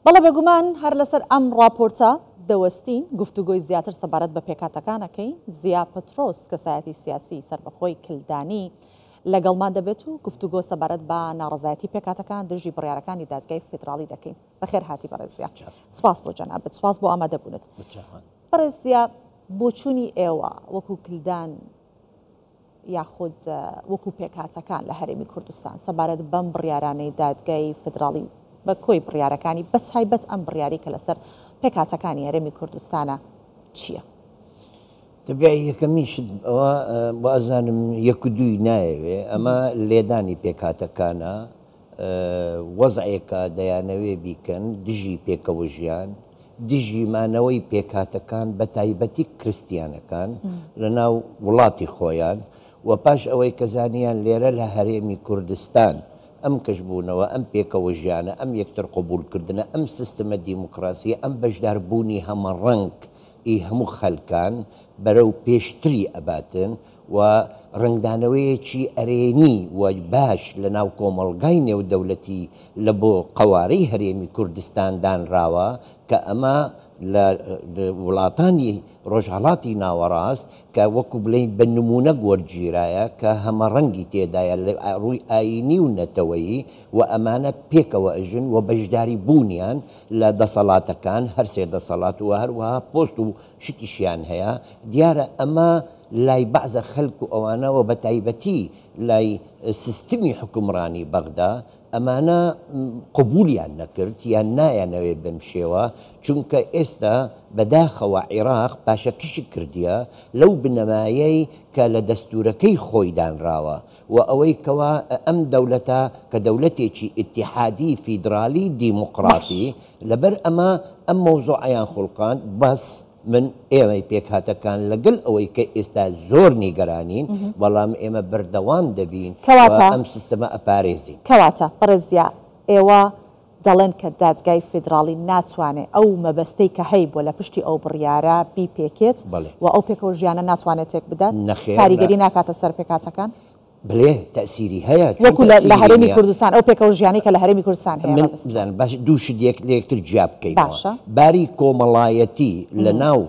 بەڵێ بێگومان هەر لەسەر ئەم ڕاپۆرتە دەوەستین گفتوگۆی زیاتر سەبارەت بە پێکهاتەکانەکەی زیا پترۆس کەسایەتی سیاسی سەربەخۆی کلدانی لەگەڵمان دەبێت و گفتوگۆ سەبارەت بە ناڕزایەتی پێکاتەکان دژی بڕیارەکانی دادگای فیدراڵی دەکەین بەخێر هاتی بەڕێزیا سپاس بۆ جەنابەت سپاس بۆ ئامادەبوونت بەڕێزیا بۆچوونی ئێوە وەکو کلدان یاخود وەکو پێکهاتەکان لە هەرێمی کوردستان سەبارەت بەم بڕیارانەی دادگای فدراڵی بە کۆی بڕیارەکانی بە تایبەت ئەم بڕیاری کە لەسەر پێکهاتەکانی هەرێمی کوردستانە چییە؟ تبیا یەکەمیشت ئەوە بازانم یەک دووی نایەوێ ئەمە لێدانی پێکاتەکانە وەزعێکە دەیانەوێ بیکەن دژی پێکەوەژیان، دژی مانەوەی پێکهاتەکان بە تایبەتی کرستیانەکان لە ناو وڵاتی خۆیان و پاش ئەوەی کە زانیان لێرە لە هەرێمی کوردستان ئەم کەشبوونەوە، ئەم پێکەوەژیانە، ئەم یەکتر قبووڵ کردنە، ئەم سیستمە دیموکراسیە، ئەم بەشدار بوونی هەمەڕەنگ ی هەموو خەلکان بەرەو پێشتری ئەباتن، و ڕەنگدانەوەیەکی ئەرێنی و باش لە ناو کۆمەڵگای نێودەولەتی لە بۆ قەوارەی هەرێمی کوردستان دانراوە کە ئەمە لە وڵاتانی ڕۆژهەڵاتی ناوەڕاست کە وەکو بڵێین بە نموونەک وەرگیرایە کە هەمەڕەنگی تێدایە لە ڕووی ئایینی و نەتەوەیی و ئەمانە پێکەوە ئەژن و بەشداری بوونیان لە دەسەڵاتەکان هەر سێ دەسەڵات و هەروەها پۆست و شتیشیان هەیە دیارە ئەمە لای بەعزە خەلک و ئەوانە وە بەتایبەتی لای سیستمی حوکمڕانی بەغدا ئەمانە قبولیان نەکرد یان نایانەوێ بەم شێوە چونکە ئێستا بەداخەوە عیراق پاشەکشی کردیە لەو بنەمایەی کە لە دەستورەکەی خۆی دانراوە وە ئەوەی کەوا ئەم دەولەتە کە دەولەتێکی ئیتیحادی فیدرالی دیموقراتی لەبەر ئەمە ئەم مەوزوعەیان خوڵقاند، بەس من ئێمەی پێکهاتەکان لەگەل ئەوەی کە ئێستا زۆر نیگەرانین، بەڵام ئێمە بەردەوام دەبین و ئەم سیستەمە ئەپارێزین. کەواتە بەڕێز دیار، ئێوە دەڵێن کە دادگای فیدراڵی ناتوانێ ئەو مەبەستەی کە هەیبووە لە پشتی ئەو بڕیارە بیپێکێت و ئەو پێکەوەژیانە ناتوانێ تێکبدات، کاریگەری ناکاتە سەر پێکهاتەکان؟ بەلێ تەئسیری هەیە چۆن وەکو لە تەئسیری هەرێمی نییە؟ کوردستان ئەو پێکەوە ژیانەی کە لە هەرێمی کوردستان هەیە من مەبەستمە بزانم باش دوو شت یەک لە یەکتر جیا بکەینەوە باشە باری کۆمەڵایەتی لە ناو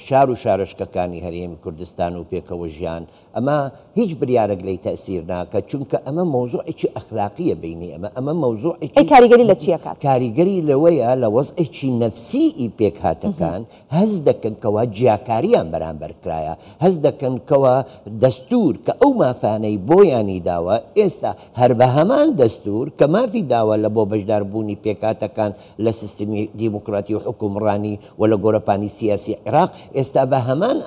شار و شارۆچکەکانی هەرێمی کوردستان و پێکەوە ژیان ئەمە هیچ بریارەک لێی تەئسیر ناکە چونکە ئەمە مەوزوعێکی ئەخلاقییە بەینی ئەمە ئەمە ئەی مەوزوعێکی کاریگەری لە چی ئەکات؟ کاریگەری لەوەیە لە وەزعێکی نەفسیی پێکهاتەکان هەست دەکەن کەوا جیاکارییان بەرامبەر کرایە، هەست دەکەن کەوا دەستوور کە ئەو مافانەی بۆیانی داوە، ئێستا هەر بە هەمان دەستوور کە مافی داوە لە بۆ بەشداربوونی پێکهاتەکان لە سیستمی دیموکراتی و حوکمڕانی و لە گۆرەپانی سیاسی عیراق، ئێستا بە هەمان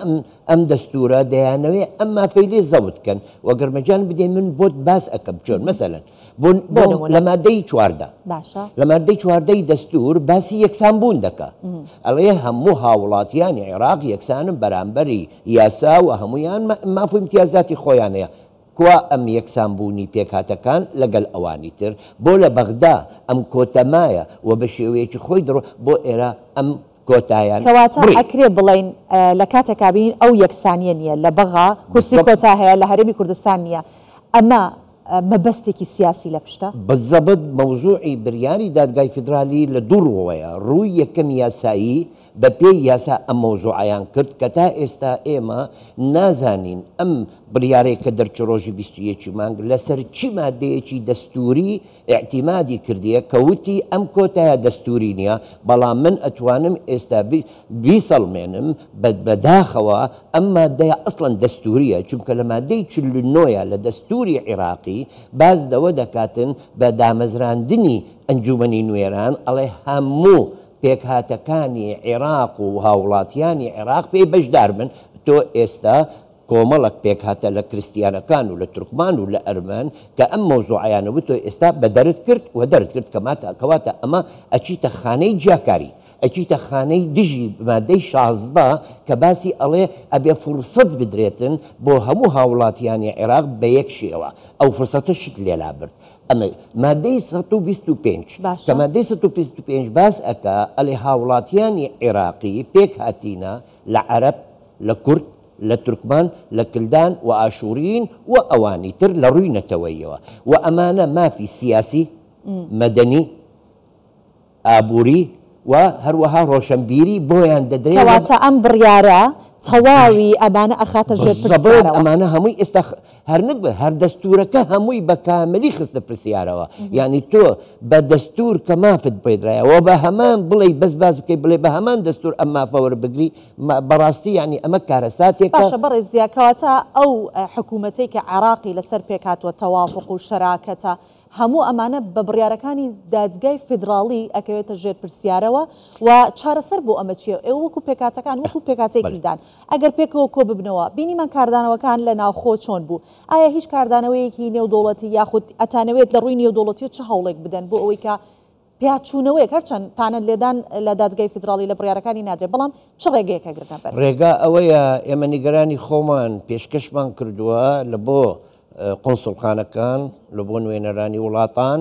ئەم دەستوورە دەیانەوێ ئەم مافەی لێ زەوت کەن و گەرمەجان بدەی من بۆت باس ئەکەم چۆن مەسەلەن. بۆ بۆ نمونە. لە مادەی چواردە باشە لە مادەی چواردەی دەستور باسی یەکسان بوون دەکا ئەڵێ هەموو هاوڵاتیانی عێراق یەکسانم بەرامبەری یاسا و هەمویان مە- ماف و ئیمتیازاتی خۆیان هەیە کوا ئەم یەکسان بوونی پێکهاتەکان لەگەل ئەوانی تر بۆ لە بەغدا ئەم کۆتە مایە و بە شێوەیەکی خۆی دڕۆ بۆ ئێرە ئەم کۆتایان کەواتە بڕی. ئەکرێ بڵێین اه، لە کاتێکا بینین ئەو یەکسانیە نیە لە بەغا کورسی بالضبط. کۆتا هەیە لە هەرێمی کوردستان نیە ئەمە مەبەستێکی سیاسی لە پشتە؟ بەزەبت مەوزوعی بریاری دادگای فیدرالی لە دوو روەیە، رووی یەکەم یاسایی، بە پێی یاسا ئەم مەوزوعەیان کرد کە تا ئێستا ئێمە نازانین ئەم بریارەی کە دەرچوو رۆژی بیست و یەک مانگ لە سەر چی مادەیەکی دەستووری ئیعتیمادی کردیە کە وتی ئەم کۆتایە دەستووری نیە بەڵام من ئەتوانم ئێستا بیسەڵمێنم بە بە داخەوە ئەم مادەیە ئەسڵەن دەستوورییە چونکە لە مادەی چل و نۆ ە لە دەستووری عیراقی باس دەوە دەکاتن بە دامەزراندنی ئەنجوومەنی نوێران ئەڵێ هەموو پێکهاتەکانی عیراق و هاوڵاتیانی عیراق پێی بەشدار بن تۆ ئێستا کۆمەڵەک پێکهاتە لە کرستیانەکان و لە تورکمان و لە ئەرمەن کە ئەم مەوزوعەیانە بوو تۆ ئێستا بە دەرت کرد و دەرت کرد کەماتە کەواتە ئەمە ئەچیتە خانەی جیاکاری ئەچیتە خانەی دژی مادەی شازدە کە باسی ئەڵێ ئەبێ فورسەت بدرێتن بۆ هەموو هاوڵاتیانی عێراق بە یەک شێوە ئەو فرسەتە شت لێلا برد ئەمە مادەی سەد و بیست و پێنج کە باشە. مادەی سەد و بیست و پێنج باس ئەکا ئەلێ هاوڵاتیانی عێراقی پێک هاتینە لە عەرەب لە کورد لە تورکمان لە کلدان و ئاشووریین و ئەوانی تر لە ڕووی نەتەوەییەوە و ئەمانە مافی سیاسی، مەدەنی، ئابووری و هەروەها ڕۆشەنبیری بۆیان دەدرێ و کەواتە ئەم بڕیارە تەواوی ئەمانە ئەخاتە ژێر بزبڵێن پرسیارەوە. ئەمانە هەمووی ئێستا خ- هەر نەک بە- هەر دەستوورەکە هەمووی بە کاملی خستە پرسیارەوە یانی تۆ بە دەستوور کە مافت پێدرایە و بە هەمان بڵێی بەس باس بکەی بڵێ بە هەمان دەستوور ئەم مافە وەربگری ما- بەڕاستی یانی ئەمە کارەساتێکە باشە بەڕێز زیا کەواتە ئەو حکوومەتەی کە عێراقی لەسەر پێکهاتووە تەوافق و شەراکەتە، هەموو ئەمانە بە بڕیارەکانی دادگای فیدراڵی ئەکەوێتە ژێر پرسیارەوە و چارەسەر بۆ ئەمە چییە؟ ئێوە وەکو پێکهاتەکان وەکو پێکهاتەی بەلێ. پیلدان ئەگەر پێکەوە کۆ ببنەوە، بینیمان کاردانەوەکان لە ناوخۆ چۆن بوو؟ ئایا هیچ کاردانەوەیەکی نێودەوڵەتی یاخود ئەتانەوێت لە ڕووی نێودەوڵەتییەوە چ هەوڵێک بدەن بۆ ئەوەی کە پیاچوونەوەیەک، هەرچەند تانە لێدان لە دادگای فیدراڵی لە بڕیارەکانی نادرێت، بەڵام چ ڕێگەیەک ئەگرنە بەر؟ ڕێگا ئەوەیە، ئێمە نیگەرانی خۆمان پێشکەشمان کردووە لە بۆ قونسوڵخانەکان، لە بۆ نوێنەرانی وڵاتان،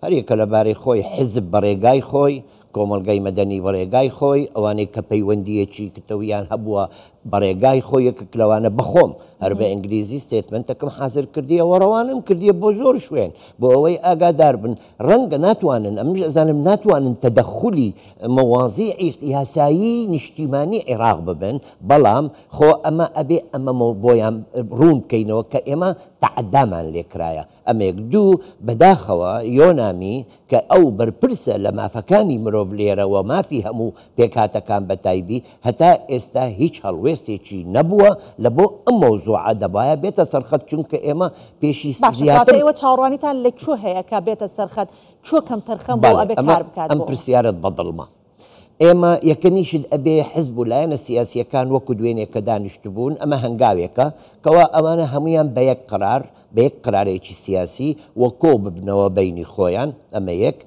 هەر یەکە لە بارەی خۆی، حیزب بە ڕێگای خۆی، کۆمەڵگای مەدەنی بە ڕێگای خۆی، ئەوانەی کە پەیوەندییەکی کتەویان هەبووە بە ڕێگای خۆی، یەکێک لەوانە بە خۆم، هەر بە ئینگلیزی ستێتمێنتەکم حازر کردییە و ڕەوانەم کردییە بۆ زۆر شوێن، بۆ ئەوەی ئاگادار بن. ڕەنگە ناتوانن، ئەمنیش ئەزانم ناتوانن تەدەخولی مەوازیعی یاسایی نیشتیمانی عیراق ببن، بەڵام خۆ ئەمە ئەبێ ئەمە بۆیان ڕوون بکەینەوە کە ئێمە تەعەدامان لێ کرایە. ئەمە یەک. دوو، بەداخەوە یۆنامی کە ئەو بەرپرسە لە مافەکانی مرۆڤ لێرە و مافی هەموو. پێکهاتەکان بەتایبی هەتا ئێستا هیچ هەڵوێستێکی نەبووە لە بۆ ئەم مەوزوعە دەبایە بێتە سەرخەت چونکە ئێمە پێشی زیاتر. باشە کەواتە ئێوە چاوەڕوانیتان لە کوێ هەیە کە بێتە سەرخەت کوێ کەمتەرخەم بۆ ئەبێ کار بکات بۆ ئەمە؟ ئەم پرسیارەت بەدڵمە. ئێمە یەکەمیشت ئەبێ حزب و لایەنە سیاسییەکان وەکو دوێنێ کە دانیشتبوون ئەمە هەنگاوێکە کەوا ئەمانە هەموویان بە یەک قەرار، بە یەک قەرارێکی سیاسی و کۆ ببنەوە بەینی خۆیان، ئەمە یەک،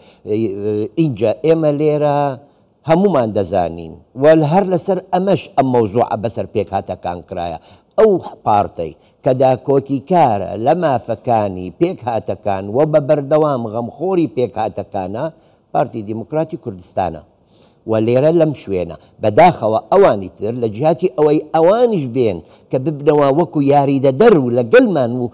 ئینجا ئێمە لێرە هەموومان دەزانین و هەر لەسەر ئەمەش ئەم مەوزوعە بەسەر پێکهاتەکان کرایە، ئەو پارتەی کە داکۆکیکارە لە مافەکانی پێکهاتەکان و بە بەردەوام غەمخۆری پێکهاتەکانە، پارتی دیموکراتی کوردستانە. و لێرە لەم شوێنە بەداخەوە ئەوانی تر لە جیاتی ئەوەی ئەوانیش بێن کە ببنەوە وەکو یاریدەدەر و لەگەلمان و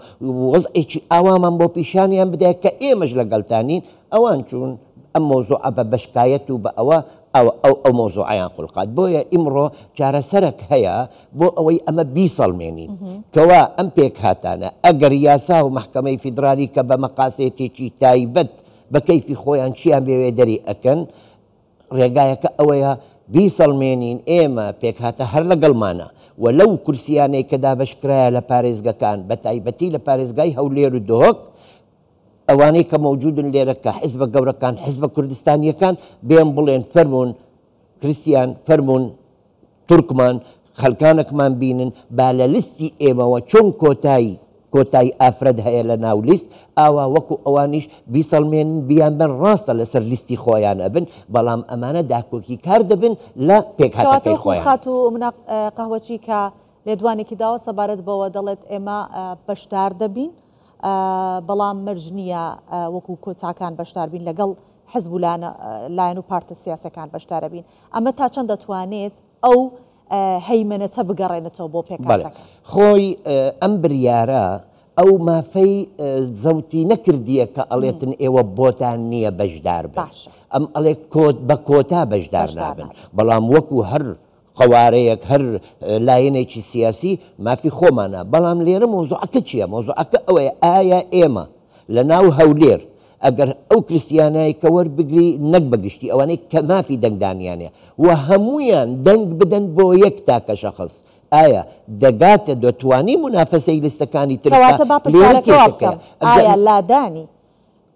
وەزعێکی ئاوامان بۆ پیشانیان بدەیە کە ئێمەش لەگەلتانین، ئەوان چوون ئەم مەوزوعە بە بەشکایەت و بە ئەوە ئەو ئەو مەوزوعەیان خولقاند. بۆیە ئیمڕۆ چارەسەرەک هەیە بۆ ئەوەی ئەمە بیسەڵمێنین کەوا ئەم پێکهاتانە ئەگەر یاسا و مەحکەمەی فیدرالی کە بە مەقاسێتێکی تایبەت، بە کەیفی خۆیان چیان بێوێ دەری ئەکەن، ڕێگایەکە ئەوەیە بیسەڵمێنین ئێمە پێکهاتە هەر لەگەڵمانە و لەو کورسیانەی کە دابەشکرایە لە پارێزگەکان بە تایبەتی لە پارێزگای هەولێر و دهۆک ئەوانەی کە مەوجودن لێرە کە حزبە گەورەکان حزبە کوردستانیەکان بێن بڵێن فەرموون کریستیان فەرموون تورکمان خەلکانەکمان بینن با لە لستی ئێمەوە چۆن کۆتای کۆتای ئافرەت هەیە لە ناو لیست ئاوا وەکو ئەوانیش بیسەلمێنن بیان بەن راستە لە سەر لیستی خۆیان ئەبن بەڵام ئەمانە داکۆکی کار دەبن لە پێکهاتەکەی خۆیان. کەواتە وەکو خاتوو مناق قەهوەچی کە لێدوانێکی داوە سەبارەت بەوە دەڵێت ئێمە بەشدار دەبین بەڵام مەرج نییە وەکو کۆتاکان بەشداربین لەگەڵ حزب و لایەن و پارتە سیاسەکان بەشدارەبین. ئەمە تا چەند دەتوانێت ئەو هەیمەنەتە بگەڕێنێتەوە بۆ پێکهاتەکە؟ خۆی ئەم بریارە ئەو مافەی زەوتی نەکردیە کە ئەڵێتن ئێوە بۆتان نییە بەشدار باش ئەم ئەڵێ کۆت بە کۆتا بەشدار نابن بەڵام وەکو هەر قوارەیەک هەر لایەنێکی سیاسی مافی خۆمانە بەڵام لێرە مۆزوعەکە چییە مۆزوعەکە ئەوەیە ئایا ئێمە لە ناو هەولێر ئەگەر ئەو کریستیانای کە وەربگری نەک بە گشتی ئەوانەی کە مافی دەنگدانیان هەیە و هەموویان دەنگ بدەن بۆ یەک تاکە شەخس ئایا دەگاتە دەتوانی مونافەسەی لیستەکانی تر بکا کەواتە با لێرە پرسیارەکە وا کێشەکەیە بکەم ئەگەر ئایا لادانی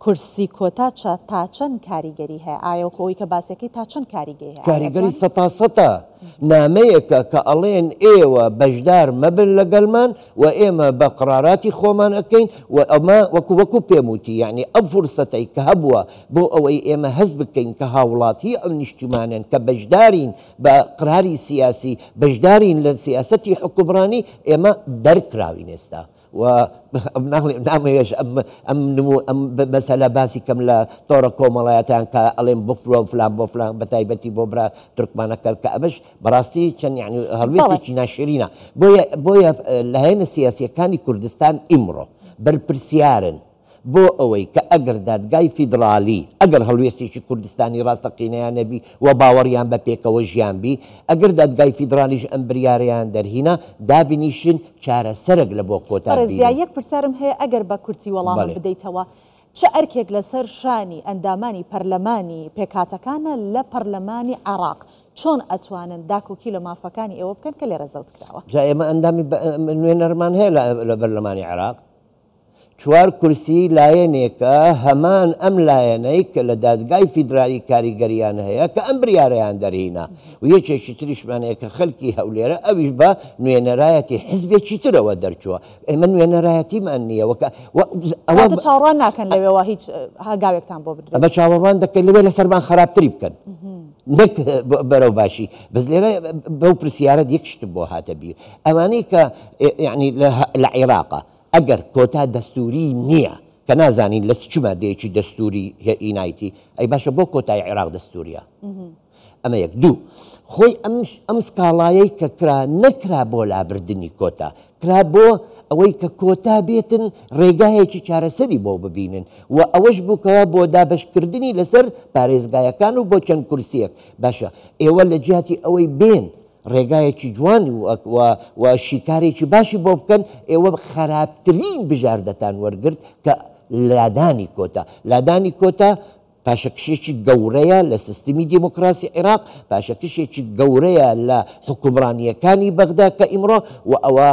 کورسی کۆتا چە تا چەند کاریگەری هەیە ئایا وەکو ئەوەی کە باسیەکەی تا چەند کاریگەی هەیە ئایا کاریگەری ئەتوان سەتاسەتا نامەیەکە کە ئەڵێن ئێوە بەشدار مەبن لەگەلمان و ئێمە بە قڕاراتی خۆمان ئەکەین و ئەمە وەکو وەکو پێم وتی یەعنی ئەو فورسەتەی کە هەبووە بۆ ئەوەی ئێمە هەست بکەین کە هاوڵاتی ئەم نیشتیمانەن کە بەشدارین بە قراری سیاسی بەشدارین لە سیاسەتی حوکمڕانی ئێمە دەرکراوین ئێستا و ناڵێم نامەیەش ئەم ئەم نمو ئەم مەسەلە باسی کەم لە تۆڕە کۆمەڵایەتیان کە ئەڵێم بفرۆن فلان بۆ فلان بە تایبەتی بۆ برا تورکمانەکە کە ئەمەش بەڕاستی چەند یانی هەڵوێستێکی ناشرینە بۆیە بۆیە لایەنە سیاسیەکانی کوردستان ئیمڕۆ بەرپرسیارن بۆ ئەوەی کە ئەگەر دادگای فیدڕالی ئەگەر هەڵوێستێکی کوردستانی ڕاستەقینەیان نەبی و باوەڕیان بە پێکەوە ژیان بی ئەگەر دادگای فیدڕالیش ئەم بریارەیان دەرهینا دابنیشن چارەسەرەک لە بۆ خۆتان بینن. بەڕێز یەک پرسیارم هەیە ئەگەر بە کورتی وەڵامم بەڵێ. بدەیتەوە چ ئەرکێک لەسەر شانی ئەندامانی پەرلەمانی پێکهاتەکانە لە پەڕلەمانی عێڕاق؟ چۆن ئەتوانن داکۆکی لە مافەکانی ئێوە بکەن کە لێرە زەوت کراوە؟ جا ئێمە ئەندامی نوێنەرمان هەیە لە بەرلەمانی عێڕاق چوار کورسی لایەنێکە هەمان ئەم لایەنەی کە لە دادگای فیدرالی کاریگەریان هەیە کە ئەم بریارەیان دەرهینا و یەکێکی تریشمان هەیە کە خەلکی هەولێرە ئەویش بە نوێنەرایەتی حزبێکی ترەوە دەرچووە ئێمە نوێنەرایەتیمان نییە وەکە ئەوە چاڕوان ناکەن لەوێەوە هیچ هاگاوێکتان بۆ بدرێت بە چاوەڕوان دەکەن لەوێ لەسەرمان خراپتری بکەن نەک بەرەو باشی بەس لێرە بەو پرسیارە یەکشتم بۆ هاتە بیر ئەمانەی کە یعنی لە عێراقە ئەگەر کۆتا دەستوری نییە کە نازانین لە چما دێکی دەستوری هێئینایتی ئەی باشە بۆ کۆتای عێراق دەستوریە ئەمە یەک، دوو خۆی ئەم ئەم سکاڵایەی کە کرا نەکرا بۆ لابردنی کۆتا، کرا بۆ ئەوەی کە کۆتا بێتن ڕێگایەکی چارەسەری بۆ ببینن و ئەوەش بوو کەوا بۆ دابەشکردنی لەسەر پارێزگایەکان و بۆ چەند کورسییەک، باشە ئێوە لە جیاتی ئەوەی بێن ڕێگایەکی جوان و و و شیکارێکی باشی بۆ بکەن، ئێوە خەراپترین بژاردەتان وەرگرت کە لادانی کۆتا، لادانی کۆتا پاشەکشێکی گەورەیە لە سیستمی دیموکراسی عیراق، پاشەکشێکی گەورەیە لە حوکمڕانییەکانی بەغدا کە ئیمڕۆ و ئەوە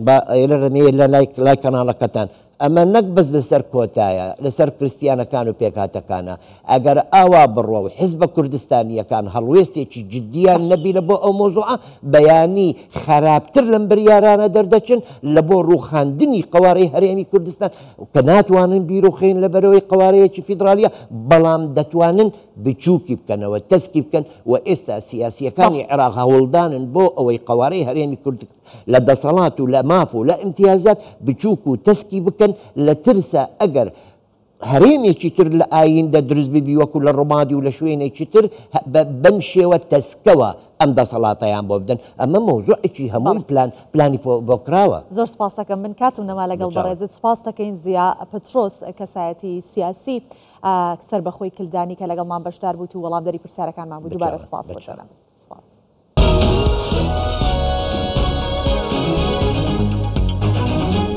با ئێرە رەنێ لە لای لای کەناڵەکەتان ئەمە نەک بەس لەسەر کۆتایە لەسەر کرستیانەکان و پێکهاتەکانە ئەگەر ئاوا بڕوا و حزبە کوردستانییەکان هەڵوێستێکی جددیان نەبینە بۆ ئەو مۆزوعە بەیانی خەراپتر لەم بریارانە دەردەچن لە بۆ رووخاندنی قەوارەی هەرێمی کوردستان کە ناتوانن بیروخێن لە بەرەوەی قەوارەیەکی فیدرالیە بەڵام دەتوانن بچوکی بکەنەوە تەسکی بکەن و ئێستا سیاسیەکانی عێراق هەوڵدانن بۆ ئەوەی قەوارەی هەرێمی کورد لە دەسەڵات و لە ماف و لە ئیمتیازات بچوک و تەسکی بکەن لە ترسە ئەگەر هەرێمێکی تر لە ئایندە دروست ببی وەکو لە ڕمادی و لە شوێنێکی تر بەم شێوە تەسکەوە ئەم دەسەڵاتەیان بۆ بدەن ئەمە مەوزوعێکی هەمووی پلان پلانی بۆ کراوە. زۆر سپاستەکەم من کاتم نەما لەگەڵ بەڕێزت سپاس دەکەین زیا پترۆس کەسایەتی سیاسی سەر بەخۆی کلدانی کە لەگەڵمان بەشدار بوو و وەڵامدەری پرسیارەکانمان بوو دووبارە سپاس بەشەکەم سپاس.